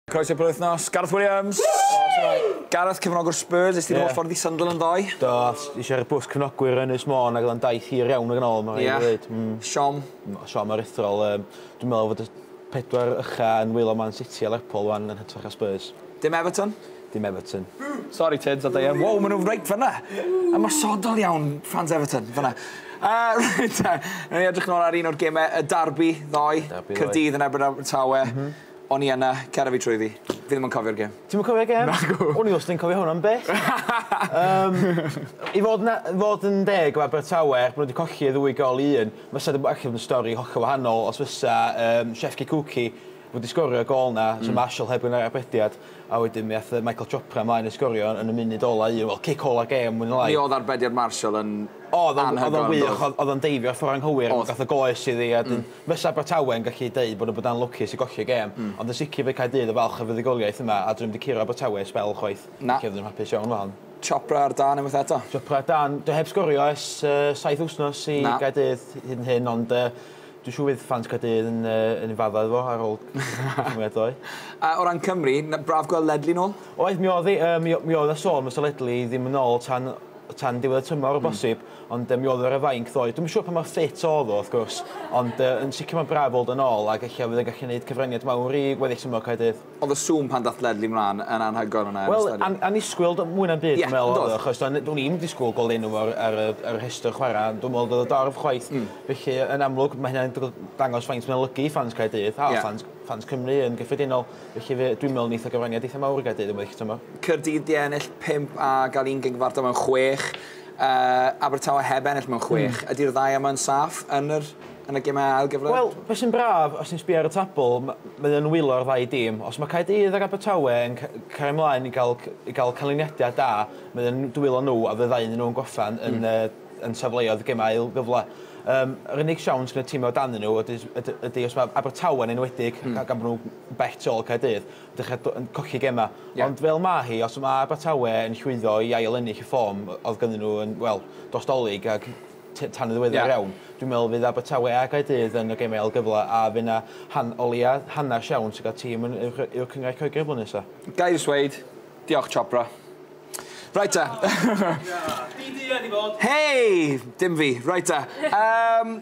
Croeso i'r penwythnos, Gareth Williams! Gareth, cefnogwr Spurs, es ti'n holl ffordd i Sunderland ddoe? Do, eisiau rhoi bws cefnogwyr yn Ynys Môn ac oedd o'n daith hir iawn ag yn ôl, mae'n rhaid i ddweud. Ie, siom. Siom aruthrol. Dwi'n meddwl fod y pedwar ucha yn wylo Man City a Lerpwl wan yn hytrach na Spurs. Dim Everton? Dim Everton. Sori Tids a Deian. Wow, maen nhw reit fanna! Ymosodol iawn, fans Everton, fanna. Reit te, rhaid ni edrych nôl ar un o'r gemau, y darbi ddoe, Caerdydd yn erbyn Abertawe. O'n i yna, cara fi trwyddi. Fi ddim yn cofio'r gem. Ti'm yn cofio'r gem? Nagw. O'n i wastad yn cofio hwn am byth. Yym i fod na- fod yn deg efo Abertawe er bo' n'w 'di colli y ddwy gol i un fysa di ella bod yn stori hollol wahanol os fysa yym Shefki Kuki wedi sgorio'r gol 'na so Marshall heb ga'l arbediad a wedyn mi ath yy Michael Chopra mlaen i sgorio yn y munud ola un wel cic ola'r gem mwy ne' lai. Mi o'dd arbediad Marshall yn anhygoel on'd o'dd? O'dd o'n wych o'dd o'dd o'n deifio ffor anghywir. O'dd. Gath y goes iddi a 'dyn Fysa Abertawe'n gallu deud bod nhw bod anlwcus i golli'r gêm, ond yn sicr fydd Caerdydd yn falch o fuddugoliaeth yma a 'dyn nhw 'im 'di curo Abertawe sbel chwaith. Na. Felly oedden nhw'n hapus iawn efo hon. Chopra ar dân unwaith eto. Chopra ar dân. Dio heb sgorio ers saith wythnos i Gaerdydd hyd yn hyn ond dwi'n siŵr fydd ffans Caerdydd yn yn un fadda iddo fo ar ôl cymeriad ddoe. A o ran Cymru, braf gweld Ledley nôl? Oedd, mi o'dd 'i. Yy mi o- mi o'dd 'na sôn fysa Ledley ddim yn ôl tan tan diwedd y tymor o bosib. Ond yy mi o'dd o ar y fainc ddoe. Dwi'm yn siŵr pa mor ffit o'dd o wrth gwrs, ond yy yn sicr ma'n braf weld o nôl ac ella fydd e'n gallu neud cyfraniad mawr i weddill tymor Caerdydd. O'dd y sŵn pan dath Ledley mlan yn anhygoel yna yn y stadiwm. Wel, an- annisgwyl do- mwy na'm byd dwi'n meddwl o'dd o achos do- n- do'n i'm disgwyl gweld enw fo ar ar y ar y rhestr chwara' ond dwi'm me'wl o'dd o dorf chwaith felly yn amlwg ma' hynna'n dygl- dangos faint mae'n olygu i ffans Caerdydd a ffans ffans Cymru yn gyffredinol felly fe- dwi'n me'wl neith o gyfraniad eitha mawr i Gaerdydd yn weddill y tymor. Caerdydd 'di ennill pump a ga'l un gig fartal mewn chwech. Yy, Abertawe heb ennill mewn chwech. Ydi'r ddau yma yn saff yn yr yn y gemau ail gyfle? Wel, be sy'n braf, os ti'n sbio ar y tabl, m- mae o'n wylo'r ddau dîm. Os mae Caerdydd ac Abertawe yn ca- cario mlaen i gael c- i gael canlyniadau da, mae o'n dwylo nhw a fydda iddyn nhw'n gorffen yn yy yn safleoedd y gemau ail gyfle. Yym, yr unig siawns gyda tîmau o dan nhw ydy s- yd- ydy os mae Abertawe'n enwedig, gan bod nhw'n bell tu ôl i Caerdydd. dechrau do- yn colli gemau. Ie. Ond fel ma' hi, os ma' Abertawe yn llwyddo i ail-ennill y ffom oedd gynddyn nhw yn, wel, dros Dolig ac t- tan yn ddiweddar Ie. iawn, dwi'n meddwl fydd Abertawe a Gaerdydd yn y gemau ail-gyfle a fydd 'na han- o leia' hanner siawns i gael tîm yn Uwch Uwch Cynghrair Lloegr blwyddyn nesa. Ga i ddweud, diolch Chopra. Reit te. Hei! Dim fi. Reit te. Yym.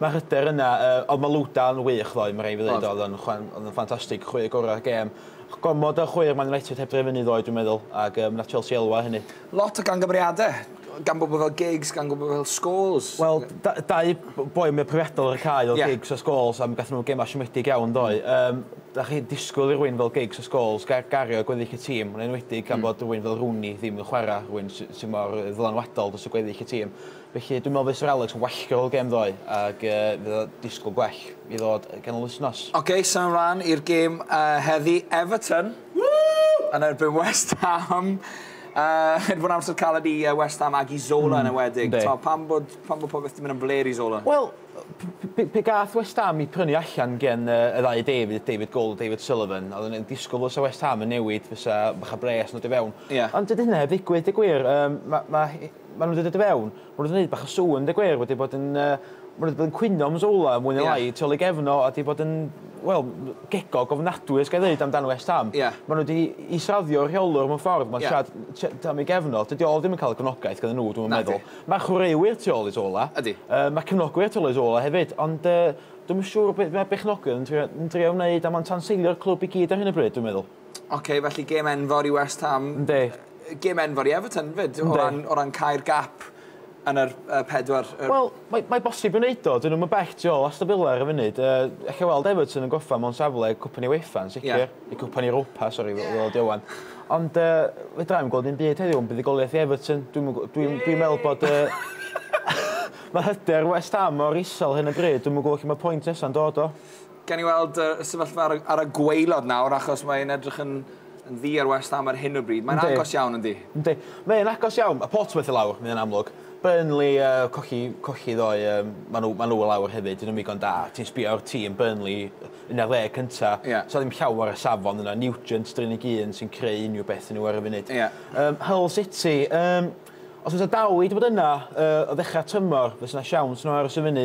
Mae'r hyder yna. Yy, oedd Malouda yn wych ddoe, ma' raid fi ddeud. Oedd. Oedd o'n chwan- oedd o'n ffantastig. Chwe gorau'r gêm. Gormod o chweir Man United heb droi fyny ddoe, dwi'n meddwl, ac yym wnaeth Chelsea elwa o hynny. Lot o gamgymeriadau, gan bobl fel Giggs, gan bobl fel Scholes. Wel, da- dau b- boi mwya profiadol ar y cae oedd. Ie. Giggs a Scholes, a mi gathon nhw gemau siomedig iawn, yn doedd? Yym, dach chi'n disgwyl i rywun fel Giggs a Scholes ga- gario gweddill y tîm, yn enwedig gan bod rywun fel Rooney ddim yn chwarae, rywun sy sy mor yy ddylanwadol dros y gweddill y tîm. Felly dwi'n meddwl fysa Alex yn wallgo'r ol gêm ddoe ag fydd o disgwyl gwell i ddod yn ganol wythnos. Ok, symud mlan i'r gêm heddi, Everton yn erbyn West Ham. Mae 'di bod yn amser caled i West Ham ag i Zola yn enwedig. Yndi. Pam bod popeth 'di mynd yn flêr i Zola? Wel, pe gath West Ham 'u prynu allan gen y ddau David, David Gold a David Sullivan, oedden ni'n disgwyl fysa West Ham yn newid, fysa bach o bres yn dod i fewn. Ie. Ond dydi hynna heb ddigwydd deu gwir. Yym ma' Maen nhw 'di dod i fewn, maen nhw 'di wneud bach o sŵn deu gwir, wedi bod yn yy maen nhw 'di bod yn cwyno am Zola mwy neu lai... Ie. ...tu ôl i gefn o a 'di bod yn wel m- gegog ofnadwy os ga i ddeud amdan West Ham. Ie. Maen nhw 'di israddio rheolwr mewn ffordd ma'n... Ie. ...siarad t- t- am ei gefn o. Dydi o ddim yn cael y gefnogaeth gyda nhw dwi'm yn meddwl. Nadi. Ma' chwaraewyr tu ôl i Zola. Ydi. Yy ma' cefnogwyr tu ôl i Zola hefyd ond yy dwi'm yn siŵr be' ma' bechnogion yn trio yn drio wneud a ma'n tanseilio'r clwb i gyd ar hyn o bryd dwi'n meddwl. Ok, felly gêm enfawr i West Ham. Yndi. Gêm enfawr i Everton 'fyd o ran o ran cau'r gap yn yr yy pedwar yy... Wel mae mae bosib i wneud o 'dyn nw'm yn bell tu ôl Aston Villa ar y funud yy ellai weld Everton yn gorffan mewn safle Cwpan i UEFA yn sicr. Ie. Neu Cwpan Europa sori fel fel ydi o ŵan. Ond yy fedrai'm gweld dim byd heddiw am buddugoliaeth i Everton dwi'm yn gw- dwi'n dwi'n meddwl bod yy ma' hyder West Ham mor isel ar hyn o bryd dwi'm yn gwbo lle ma' point nesa'n dod o. Gawn ni weld y sefyllfa ar y, ar y gweilod nawr, achos mae'n edrych yn, yn ddi ar West Ham ar hyn o bryd. Mae'n Yndi. agos iawn, yndi? Yndi. Mae'n agos iawn. Mae Portsmouth i lawr, mae'n amlwg. Burnley, uh, cochi, cochi ddo, um, maen nhw, ma nhw i lawr hefyd, dyn nhw'n ddigon da. Ti'n sbio ar tîm Burnley yn y leg cynta, yeah. so ddim llawer y safon yna. Nugent, drin i gyn, sy'n creu unrhyw beth yn nhw ar y funud. Yeah. Um, Hull City, um, Os oes dal i wedi bod yna uh, o ddechrau tymor, fes yna siawns nhw aros i fyny.